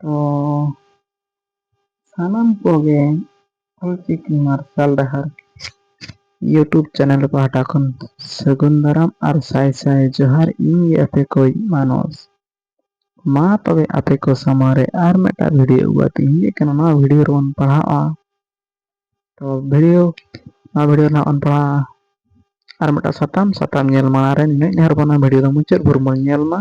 ᱛᱚ ᱥᱟᱱᱟᱢ ᱠᱚᱜᱮ ᱚᱞᱪᱤᱠᱤ ᱢᱟᱨᱥᱟᱞ ᱰᱟᱦᱟᱨ ᱤᱭᱩᱴᱩᱵᱽ ᱪᱮᱱᱮᱞ ᱯᱟᱦᱴᱟ ᱠᱷᱚᱱ ᱥᱟᱹᱜᱩᱱ ᱫᱟᱨᱟᱢ ᱟᱨ ᱥᱟᱭ ᱥᱟᱭ ᱡᱚᱦᱟᱨ ᱤᱧ ᱜᱮ ᱟᱯᱮ ᱠᱚᱭ ᱢᱟᱱᱚᱥ ᱢᱟ ᱛᱚᱵᱮ ᱟᱯᱮ ᱠᱚ ᱥᱟᱢᱟᱝ ᱨᱮ ᱟᱨ ᱢᱤᱫᱴᱟᱝ ᱵᱷᱤᱰᱤᱭᱳ ᱟᱹᱜᱩ ᱠᱟᱛᱮ ᱤᱧ ᱦᱮᱡ ᱟᱠᱟᱱᱟ ᱱᱚᱣᱟ ᱵᱷᱤᱰᱤᱭᱳ ᱨᱮᱵᱚᱱ ᱯᱟᱲᱦᱟᱜᱼᱟ ᱛᱚ ᱵᱷᱤᱰᱤᱭᱳ ᱱᱚᱣᱟ ᱵᱷᱤᱰᱤᱭᱳ ᱨᱮᱱᱟᱜ ᱵᱚᱱ ᱯᱟᱲᱦᱟᱜᱼᱟ ᱟᱨ ᱢᱤᱫᱴᱟᱝ ᱥᱟᱛᱟᱢ ᱥᱟᱛᱟᱢ ᱧᱮᱞ ᱢᱟᱲᱟᱝ ᱨᱮ ᱱᱤᱱᱟᱹᱜ ᱱᱮᱦᱚᱨ ᱵᱚᱱᱟ ᱵᱷᱤᱰᱤᱭᱳ ᱫᱚ ᱢᱩᱪᱟᱹᱫ ᱵᱷᱳᱨ ᱵᱚᱱ ᱧᱮᱞ ᱢᱟ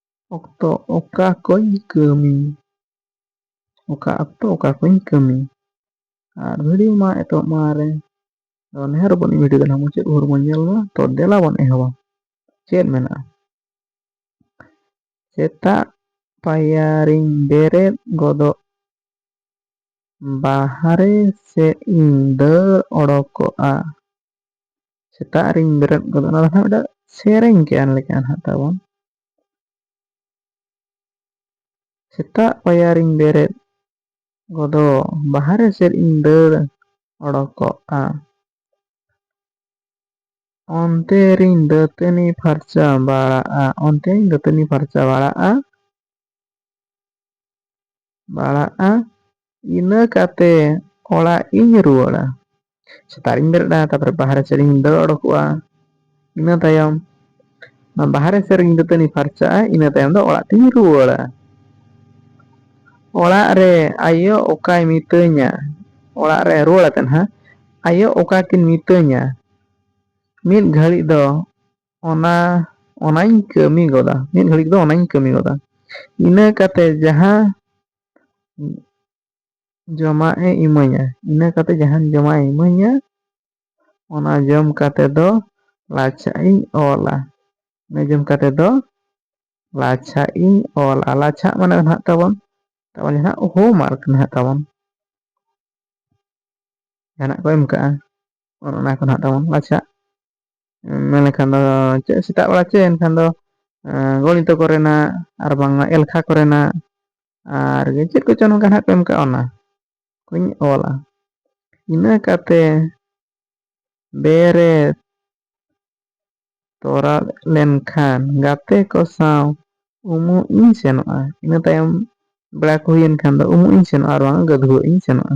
ᱚᱠᱛᱚ ᱚᱠᱟ ᱠᱚᱧ ᱠᱟᱹᱢᱤ ᱚᱠᱟ ᱚᱠᱛᱚ ᱚᱠᱟ ᱠᱚᱧ ᱠᱟᱹᱢᱤ ᱟᱨ ᱵᱷᱤᱰᱤᱭᱳ ᱢᱟ ᱮᱛᱚᱦᱚᱵ ᱢᱟᱲᱟᱝ ᱨᱮ ᱟᱫᱚ ᱱᱮᱦᱚᱨ ᱟᱵᱚᱱ ᱵᱷᱤᱰᱤᱭᱳ ᱫᱚ ᱱᱟᱦᱟᱜ ᱢᱩᱪᱟᱹᱫ ᱵᱷᱳᱨ ᱵᱚᱱ ᱧᱮᱞ ᱢᱟ ᱛᱚ ᱫᱮᱞᱟ ᱵᱚᱱ ᱮᱦᱚᱵᱟ ᱪᱮᱫ ᱢᱮᱱᱟᱜᱼᱟ ᱥᱮᱛᱟᱜ ᱯᱟᱭᱟᱨᱤᱧ ᱵᱮᱨᱮᱫ ᱜᱚᱫᱚᱜ ᱵᱟᱦᱨᱮ ᱥᱮᱫ ᱤᱧ ᱫᱟᱹᱲ ᱚᱰᱚᱠᱚᱜᱼᱟ ᱥᱮᱛᱟᱜ ᱨᱤᱧ ᱵᱮᱨᱮᱫ ᱜᱚᱫᱚᱜ ᱚᱱᱟ ᱫᱚ ᱦᱟᱸᱜ ᱢᱤᱫᱴᱟᱝ ᱥᱮᱨᱮᱧ ᱠᱟᱱ ᱞᱮᱠᱟ ᱦᱟᱸᱜ ᱛᱟᱵᱚᱱ ᱥᱮᱛᱟᱜ ᱯᱟᱭᱟᱨᱤᱧ ᱵᱮᱨᱮᱫ ᱜᱚᱫᱚᱜ ᱵᱟᱦᱨᱮ ᱥᱮᱫ ᱤᱧ ᱫᱟᱹᱲ ᱚᱰᱚᱠᱚᱜᱼᱟ ᱚᱱᱛᱮ ᱨᱤᱧ ᱫᱟᱹᱛᱟᱹᱱᱤ ᱯᱷᱟᱨᱪᱟ ᱵᱟᱲᱟᱜᱼᱟ ᱚᱱᱛᱮ ᱨᱤᱧ ᱫᱟᱹᱛᱟᱹᱱᱤ ᱯᱷᱟᱨᱪᱟ ᱵᱟᱲᱟᱜᱼᱟ ᱵᱟᱲᱟᱜᱼᱟ ᱤᱱᱟᱹ ᱠᱟᱛᱮ ᱚᱲᱟᱜ ᱤᱧ ᱨᱩᱣᱟᱹᱲᱟ ᱥᱮᱛᱟᱜ ᱨᱤᱧ ᱵᱮᱨᱮᱫᱼᱟ ᱛᱟᱨᱯᱚᱨᱮ ᱵᱟᱦᱨᱮ ᱥᱮᱫ ᱤᱧ ᱫᱟᱹᱲ ᱚᱰᱚᱠᱚᱜᱼᱟ ᱤᱱᱟᱹ ᱛᱟᱭᱚᱢ ᱚᱱᱟ ᱵᱟᱦᱨᱮ ᱥᱮᱫ ᱨᱤᱧ ᱫᱟᱹᱛᱟᱹᱱᱤ ᱯᱷᱟᱨᱪᱟᱜᱼᱟ ᱤᱱᱟᱹ ᱛᱟᱭᱚᱢ ᱫᱚ ᱚᱲᱟᱜ ᱛᱤᱧ ᱨᱩᱣᱟᱹᱲᱟ ᱚᱲᱟᱜ ᱨᱮ ᱟᱭᱳ ᱚᱠᱟᱭ ᱢᱤᱛᱟᱹᱧᱟ ᱚᱲᱟᱜ ᱨᱮ ᱨᱩᱣᱟᱹᱲ ᱟᱛᱮᱫ ᱦᱟᱸᱜ ᱟᱭᱳ ᱚᱠᱟ ᱠᱤᱱ ᱢᱤᱛᱟᱹᱧᱟ ᱢᱤᱫ ᱜᱷᱟᱹᱲᱤᱡ ᱫᱚ ᱚᱱᱟ ᱚᱱᱟᱧ ᱠᱟᱹᱢᱤ ᱜᱚᱫᱟ ᱢᱤᱫ ᱜᱷᱟᱹᱲᱤᱡ ᱫᱚ ᱚᱱᱟᱧ ᱠᱟᱹᱢᱤ ᱜᱚᱫᱟ ᱤᱱᱟᱹ ᱠᱟᱛᱮ ᱡᱟᱦᱟᱸ ᱡᱚᱢᱟᱜ ᱮ ᱤᱢᱟᱹᱧᱟ ᱤᱱᱟᱹ ᱠᱟᱛᱮ ᱡᱟᱦᱟᱸ ᱡᱚᱢᱟᱜ ᱮ ᱤᱢᱟᱹᱧᱟ ᱚᱱᱟ ᱡᱚᱢ ᱠᱟᱛᱮ ᱫᱚ ᱞᱟᱪᱷᱟᱜ ᱤᱧ ᱚᱞᱟ ᱤᱱᱟᱹ ᱡᱚᱢ ᱠᱟᱛᱮ ᱫᱚ ᱞᱟᱪᱷᱟᱜ ᱤᱧ ᱚᱞᱟ ᱞᱟᱪᱷᱟᱜ ᱢᱟᱱᱮ ᱫᱚ ᱱᱟᱦᱟᱜ ᱛᱟᱵᱚᱱ ᱛᱟᱵᱚᱱ ᱡᱟᱦᱟᱸ ᱦᱳᱢᱣᱟᱨᱠ ᱱᱟᱦᱟᱜ ᱛᱟᱵᱚᱱ ᱡᱟᱦᱟᱱᱟᱜ ᱠᱚ ᱮᱢ ᱠᱟᱜᱼᱟ ᱚᱱᱟ ᱠᱚ ᱱᱟᱦᱟᱜ ᱛᱟᱵᱚᱱ ᱞᱟᱪᱷᱟᱜ ᱢᱮᱱ ᱞᱮᱠᱷᱟᱱ ᱫᱚ ᱪᱮᱫ ᱥᱮᱛᱟᱜ ᱵᱮᱲᱟ ᱪᱮᱫ ᱮᱱᱠᱷᱟᱱ ᱫᱚ ᱜᱚᱱᱤᱛᱚ ᱠᱚ ᱨᱮᱱᱟᱜ ᱟᱨ ᱵᱟᱝᱢᱟ ᱮᱞᱠᱷᱟ ᱠᱚ ᱨᱮᱱᱟᱜ ᱟᱨ ᱜᱮ ᱪᱮᱫ ᱠᱚᱪᱚᱝ ᱱᱚᱝᱠᱟ ᱱᱟᱦᱟᱜ ᱠᱚ ᱮᱢ ᱠᱟᱜᱼᱟ ᱚᱱᱟ ᱠᱚᱧ ᱚᱞᱟ ᱤᱱᱟᱹ ᱠᱟᱛᱮ ᱵᱮᱨᱮᱫ ᱛᱚᱨᱟᱫ ᱞᱮᱱᱠᱷᱟᱱ ᱜᱟᱛᱮ ᱠᱚ ᱥᱟᱶ ᱩᱢᱩᱜ ᱤᱧ ᱥᱮᱱᱚᱜᱼᱟ ᱤᱱᱟᱹ ᱛᱟᱭᱚᱢ ᱵᱮᱲᱟ ᱠᱚ ᱦᱩᱭᱮᱱ ᱠᱷᱟᱱ ᱫᱚ ᱩᱢᱩᱜ ᱤᱧ ᱥᱮᱱᱚᱜᱼᱟ ᱟᱨ ᱵᱟᱝ ᱜᱟᱹᱫᱷᱩᱣᱟᱹᱜ ᱤᱧ ᱥᱮᱱᱚᱜᱼᱟ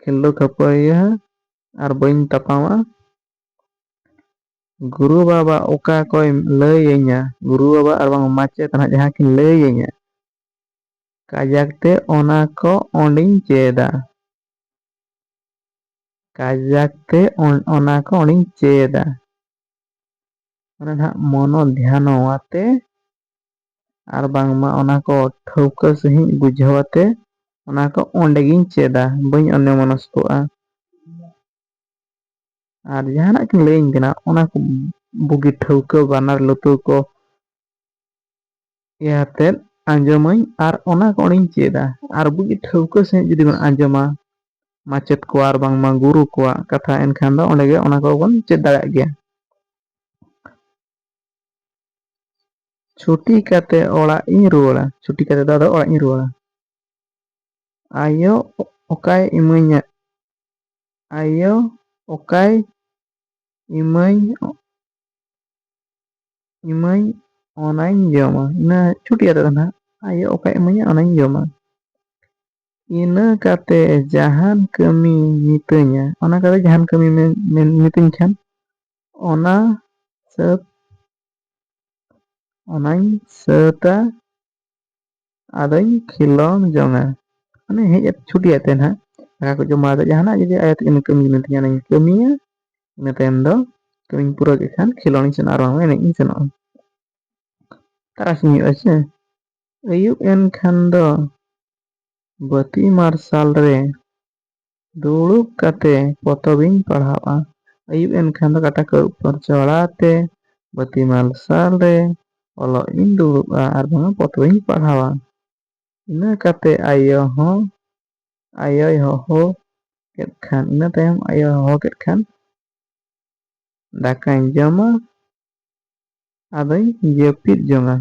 ᱠᱷᱤᱞᱰᱩ ᱠᱷᱟᱹᱯᱟᱹᱨᱤᱭᱟᱹ ᱟᱨ ᱵᱟᱹᱧ ᱛᱟᱯᱟᱢᱟ ᱜᱩᱨᱩ ᱵᱟᱵᱟ ᱚᱠᱟ ᱠᱚᱭ ᱞᱟᱹᱭᱟᱹᱧᱟ ᱜᱩᱨᱩ ᱵᱟᱵᱟ ᱟᱨ ᱵᱟᱝ ᱢᱟᱪᱮᱛ ᱱᱟᱦᱟᱜ ᱡᱟᱦᱟᱸ ᱠᱤᱱ ᱞᱟᱹᱭᱟᱹᱧᱟ ᱠᱟᱡᱟᱠ ᱛᱮ ᱚᱱᱟ ᱠᱚ ᱚᱸᱰᱤᱧ ᱪᱮᱫᱟ ᱠᱟᱡᱟᱠ ᱛᱮ ᱚᱱᱟ ᱠᱚ ᱚᱸᱰᱤᱧ ᱪᱮᱫᱟ ᱚᱱᱟ ᱱᱟᱦᱟᱜ ᱢᱚᱱᱚ ᱫᱷᱭᱟᱱᱚ ᱟᱛᱮ ᱟᱨ ᱵᱟᱝᱢᱟ ᱚᱱᱟ ᱠᱚ ᱴᱷᱟᱹᱣᱠᱟᱹ ᱥᱟᱺᱦᱤᱡ ᱵᱩᱡᱷᱟᱹᱣ ᱟᱛᱮ ᱚᱱᱟ ᱠᱚ ᱚᱸᱰᱮ ᱜᱤᱧ ᱪᱮᱫᱟ ᱵᱟᱹᱧ ᱚᱱᱱᱚ ᱢᱚᱱᱚᱥᱠᱚᱜᱼᱟ᱾ ᱟᱨ ᱡᱟᱦᱟᱱᱟᱜ ᱠᱤᱱ ᱞᱟᱹᱭᱟᱹᱧ ᱠᱟᱱᱟ ᱚᱱᱟ ᱠᱚ ᱵᱩᱜᱤ ᱴᱷᱟᱹᱣᱠᱟᱹ ᱵᱟᱱᱟᱨ ᱞᱩᱛᱩᱨ ᱠᱚ ᱤᱭᱟᱹ ᱟᱛᱮᱫ ᱟᱸᱡᱚᱢᱟᱹᱧ ᱟᱨ ᱚᱱᱟ ᱠᱚ ᱚᱸᱰᱮᱧ ᱪᱮᱫᱟ ᱟᱨ ᱵᱩᱜᱤ ᱴᱷᱟᱹᱣᱠᱟᱹ ᱥᱟᱺᱦᱤᱡ ᱡᱩᱫᱤ ᱵᱚᱱ ᱟᱸᱡᱚᱢᱟ ᱢᱟᱪᱮᱫ ᱠᱚ ᱟᱨ ᱵᱟᱝᱢᱟ ᱜᱩᱨᱩ ᱠᱚᱣᱟᱜ ᱠᱟᱛᱷᱟ ᱮᱱᱠᱷᱟᱱ ᱫᱚ ᱚᱸᱰᱮ ᱜᱮ ᱚᱱᱟ ᱠᱚᱵᱚᱱ ᱪᱮᱫ ᱫᱟᱲᱮᱭᱟᱜ ᱜᱮᱭᱟ᱾ ᱪᱷᱩᱴᱤ ᱠᱟᱛᱮ ᱚᱲᱟᱜ ᱤᱧ ᱨᱩᱣᱟᱹᱲᱟ ᱪᱷᱩᱴᱤ ᱠᱟᱛᱮ ᱫᱚ ᱟᱫᱚ ᱚᱲᱟᱜ ᱤᱧ ᱨᱩᱣᱟᱹᱲᱟ ᱟᱭᱳ ᱚᱠᱟᱭ ᱤᱢᱟᱹᱧᱟ ᱟᱭᱳ ᱚᱠᱟᱭ ᱤᱢᱟᱹᱧ ᱤᱢᱟᱹᱧ ᱚᱱᱟᱧ ᱡᱚᱢᱟ ᱤᱱᱟᱹ ᱪᱷᱩᱴᱤ ᱠᱟᱛᱮ ᱫᱚ ᱱᱟᱦᱟᱜ ᱟᱭᱳ ᱚᱠᱟᱭ ᱤᱢᱟᱹᱧᱟ ᱚᱱᱟᱧ ᱡᱚᱢᱟ ᱤᱱᱟᱹ ᱠᱟᱛᱮ ᱡᱟᱦᱟᱱ ᱠᱟᱹᱢᱤ ᱢᱤᱛᱟᱹᱧᱟ ᱚᱱᱟ ᱠᱟᱛᱮ ᱡᱟᱦᱟᱱ ᱠᱟᱹᱢᱤ ᱢᱤᱛᱟᱹᱧ ᱠᱷᱟᱱ ᱚᱱᱟ ᱥᱟᱹᱛ ᱚᱱᱟᱧ ᱥᱟᱹᱛᱟ ᱟᱫᱚᱧ ᱠᱷᱮᱞᱳᱱ ᱡᱚᱝᱟ ᱢᱟᱱᱮ ᱦᱮᱡ ᱠᱟᱛᱮ ᱪᱷᱩᱴᱤ ᱟᱛᱮ ᱱᱟᱦᱟᱜ ᱫᱟᱠᱟ ᱠᱚ ᱡᱚᱢ ᱵᱟᱲᱟ ᱠᱟᱛᱮ ᱡᱟᱦᱟᱱᱟᱜ ᱡᱩᱫᱤ ᱟᱭᱳ ᱛᱟᱹᱠᱤᱱ ᱠᱟᱹᱢᱤ ᱡᱩᱱᱤᱡ ᱛᱤᱧᱟ ᱚᱱᱟᱧ ᱠᱟᱹᱢᱤᱭᱟ ᱤᱱᱟᱹ ᱛᱟᱭᱚᱢ ᱫᱚ ᱠᱟᱹᱢᱤᱧ ᱯᱩᱨᱟᱹᱣ ᱠᱮᱫ ᱠᱷᱟᱱ ᱠᱷᱮᱞᱳᱱ ᱤᱧ ᱥᱮᱱᱚᱜᱼᱟ ᱟᱨ ᱵᱟᱝ ᱮᱱᱮᱡ ᱤᱧ ᱥᱮᱱᱚᱜᱼᱟ ᱛᱟᱨᱟᱥᱤᱧ ᱦᱩᱭᱩᱜᱼᱟ ᱥᱮ ᱟᱹᱭᱩᱵ ᱮᱱ ᱠᱷᱟᱱ ᱫᱚ ᱵᱟᱹᱛᱤ ᱢᱟᱨᱥᱟᱞ ᱨᱮ ᱫᱩᱲᱩᱵ ᱠᱟᱛᱮ ᱯᱚᱛᱚᱵ ᱤᱧ ᱯᱟᱲᱦᱟᱣᱜᱼᱟ᱾ ᱟᱹᱭᱩᱵ ᱮᱱ ᱠᱷᱟᱱ ᱫᱚ ᱠᱟᱴᱟ ᱠᱚ ᱟᱹᱨᱩᱵ ᱯᱷᱟᱨᱪᱟ ᱵᱟᱲᱟ ᱠᱟᱛᱮ ᱵᱟᱹᱛᱤ ᱢᱟᱨᱥᱟᱞ ᱨᱮ ᱚᱞᱚᱜ ᱤᱧ ᱫᱩᱲᱩᱵᱼᱟ ᱟᱨ ᱵᱟᱝ ᱯᱚᱛᱚᱵ ᱤᱧ ᱯᱟᱲᱦᱟᱣᱟ᱾ ᱤᱱᱟᱹ ᱠᱟᱛᱮ ᱟᱭᱳ ᱦᱚᱸ ᱟᱭᱳᱭ ᱦᱚᱦᱚ ᱠᱮᱫ ᱠᱷᱟᱱ ᱤᱱᱟᱹ ᱛᱟᱭᱚᱢ ᱟᱭᱳ ᱦᱚᱦᱚ ᱠᱮᱫ ᱠᱷᱟᱱ ᱫᱟᱠᱟᱧ ᱡᱚᱢᱟ ᱟᱫᱚᱧ ᱡᱟᱹᱯᱤᱫ ᱡᱚᱝᱟ᱾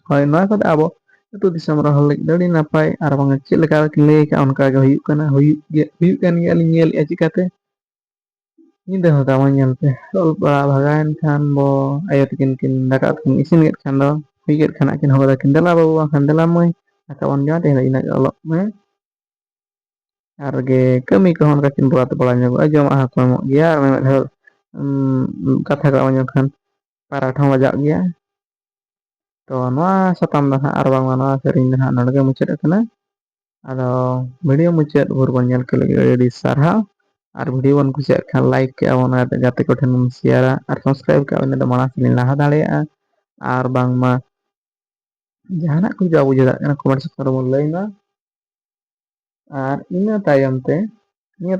ᱦᱳᱭ ᱱᱚᱣᱟ ᱠᱚᱫᱚ ᱟᱵᱚ ᱟᱹᱛᱩ ᱫᱤᱥᱚᱢ ᱨᱮᱱ ᱦᱚᱲ ᱞᱟᱹᱜᱤᱫ ᱫᱚ ᱟᱹᱰᱤ ᱱᱟᱯᱟᱭ ᱟᱨ ᱵᱟᱝ ᱪᱮᱫ ᱞᱮᱠᱟ ᱠᱤᱱ ᱞᱟᱹᱭ ᱟᱠᱟᱫ ᱚᱱᱠᱟ ᱜᱮ ᱦᱩᱭᱩᱜ ᱠᱟᱱᱟ ᱦᱩᱭᱩᱜ ᱜᱮ ᱦᱩᱭᱩᱜ ᱠᱟᱱ ᱜᱮᱭᱟ ᱞᱤᱧ ᱧᱮᱞᱮᱫᱼᱟ ᱪᱤᱠᱟᱛᱮ ᱧᱤᱫᱟᱹ ᱦᱚᱸ ᱫᱟᱢᱟ ᱧᱮᱞ ᱯᱮ ᱚᱞ ᱯᱟᱲᱦᱟᱣ ᱵᱷᱟᱜᱟᱣᱮᱱ ᱠᱷᱟᱱ ᱵᱚ ᱟᱭᱳ ᱛᱤᱠᱤᱱ ᱠᱤᱱ ᱫᱟᱠᱟ ᱩᱛᱩ ᱠᱤᱱ ᱤᱥᱤᱱ ᱠᱮᱫ ᱠᱷᱟᱱ ᱫᱚ ᱦᱩᱭ ᱠᱮᱫ ᱠᱷᱟᱱ ᱟᱹᱠᱤᱱ ᱦᱚᱦᱚ ᱟᱹᱠᱤᱱ ᱫᱮᱞᱟ ᱵᱟᱹᱵᱩ ᱵᱟᱝ ᱠᱷᱟᱱ ᱫᱮᱞᱟ ᱢᱟᱹᱭ ᱫᱟᱠᱟ ᱵᱚᱱ ᱡᱚᱢᱟ ᱛᱮᱦᱮᱧ ᱫᱚ ᱤᱱᱟᱹᱜ ᱜᱮ ᱚᱞᱚᱜ ᱢᱮ ᱟᱨ ᱜᱮ ᱠᱟᱹᱢᱤ ᱠᱚᱦᱚᱸ ᱚᱱᱠᱟ ᱠᱤᱱ ᱵᱟᱫ ᱵᱟᱲᱟ ᱧᱚᱜᱚᱜᱼᱟ ᱡᱚᱢᱟᱜ ᱦᱚᱸ ᱠᱚ ᱮᱢᱚᱜ ᱜᱮᱭᱟ ᱟᱨ ᱢᱤᱫ ᱫᱷᱟᱣ ᱩᱸ ᱠᱟᱛᱷᱟ ᱠᱚ ᱟᱸᱡᱚᱢ ᱞᱮᱱᱠᱷᱟᱱ ᱯᱟᱨᱟᱴ ᱦᱚᱸ ᱵᱟᱡᱟᱜ ᱜᱮᱭᱟ ᱛᱚ ᱱᱚᱣᱟ ᱥᱟᱛᱟᱢ ᱫᱚ ᱱᱟᱦᱟᱜ ᱟᱨ ᱵᱟᱝᱢᱟ ᱱᱚᱣᱟ ᱥᱮᱨᱮᱧ ᱫᱚ ᱱᱟᱦᱟᱜ ᱱᱚᱰᱮ ᱜᱮ ᱢᱩᱪᱟᱹᱫ ᱟᱠᱟᱱᱟ᱾ ᱟᱫᱚ ᱵᱷᱤᱰᱤᱭᱳ ᱢᱩᱪᱟᱹᱫ ᱵᱷᱳᱨ ᱵᱚᱱ ᱧᱮᱞ ᱠᱮᱫ ᱞᱟᱹᱜᱤᱫ ᱟᱹᱰᱤ ᱟᱹᱰᱤ ᱥᱟᱨᱦᱟᱣ᱾ ᱟᱨ ᱵᱷᱤᱰᱭᱳ ᱵᱚᱱ ᱠᱩᱥᱤᱭᱟᱜ ᱠᱷᱟᱱ ᱞᱟᱭᱤᱠ ᱠᱮᱜᱼᱟ ᱵᱚᱱ ᱟᱨ ᱜᱟᱛᱮ ᱠᱚᱴᱷᱮᱱ ᱵᱚᱱ ᱥᱮᱭᱟᱨᱟ ᱟᱨ ᱥᱟᱵᱥᱠᱨᱟᱭᱤᱵᱽ ᱠᱟᱜ ᱵᱚᱱ ᱤᱱᱟᱹ ᱫᱚ ᱢᱟᱲᱟᱝ ᱥᱮᱫᱤᱧ ᱞᱟᱦᱟ ᱫᱟᱲᱮᱭᱟᱜᱼᱟ ᱟᱨ ᱵᱟᱝᱢᱟ ᱡᱟᱦᱟᱱᱟᱜ ᱠᱚ ᱡᱟ ᱵᱩᱡᱷᱟᱹᱣ ᱫᱟᱲᱮᱭᱟᱜ ᱠᱟᱱᱟ ᱠᱚᱢᱮᱱᱴ ᱥᱮᱠᱥᱚᱱ ᱨᱮᱵᱚᱱ ᱞᱟᱹᱭ ᱢᱟ᱾ ᱟᱨ ᱤᱱᱟᱹ ᱛᱟᱭᱚᱢ ᱛᱮ ᱱᱤᱭᱟᱹ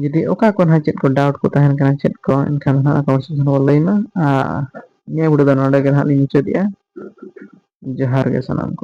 ᱡᱩᱫᱤ ᱚᱠᱟ ᱠᱚ ᱱᱟᱦᱟᱜ ᱪᱮᱫ ᱠᱚ ᱰᱟᱣᱩᱴ ᱠᱚ ᱛᱟᱦᱮᱱ ᱠᱟᱱᱟ ᱪᱮᱫ ᱠᱚ ᱮᱱᱠᱷᱟᱱ ᱫᱚ ᱱᱟᱦᱟᱜ ᱠᱚᱢᱮᱱᱴ ᱥᱮᱠᱥᱚᱱ ᱨᱮ ᱞᱟᱹᱭ ᱢᱟ ᱟᱨ ᱱᱤᱭᱟᱹ ᱵᱷᱤᱰᱤᱭᱳ ᱫᱚ ᱱᱚᱰᱮ ᱜᱮ ᱱᱟᱦᱟᱜ ᱞᱤᱧ ᱢᱩᱪᱟᱹᱫᱮᱜᱼᱟ ᱡᱚᱦᱟᱨ ᱜᱮ ᱥᱟᱱᱟᱢ ᱠᱚ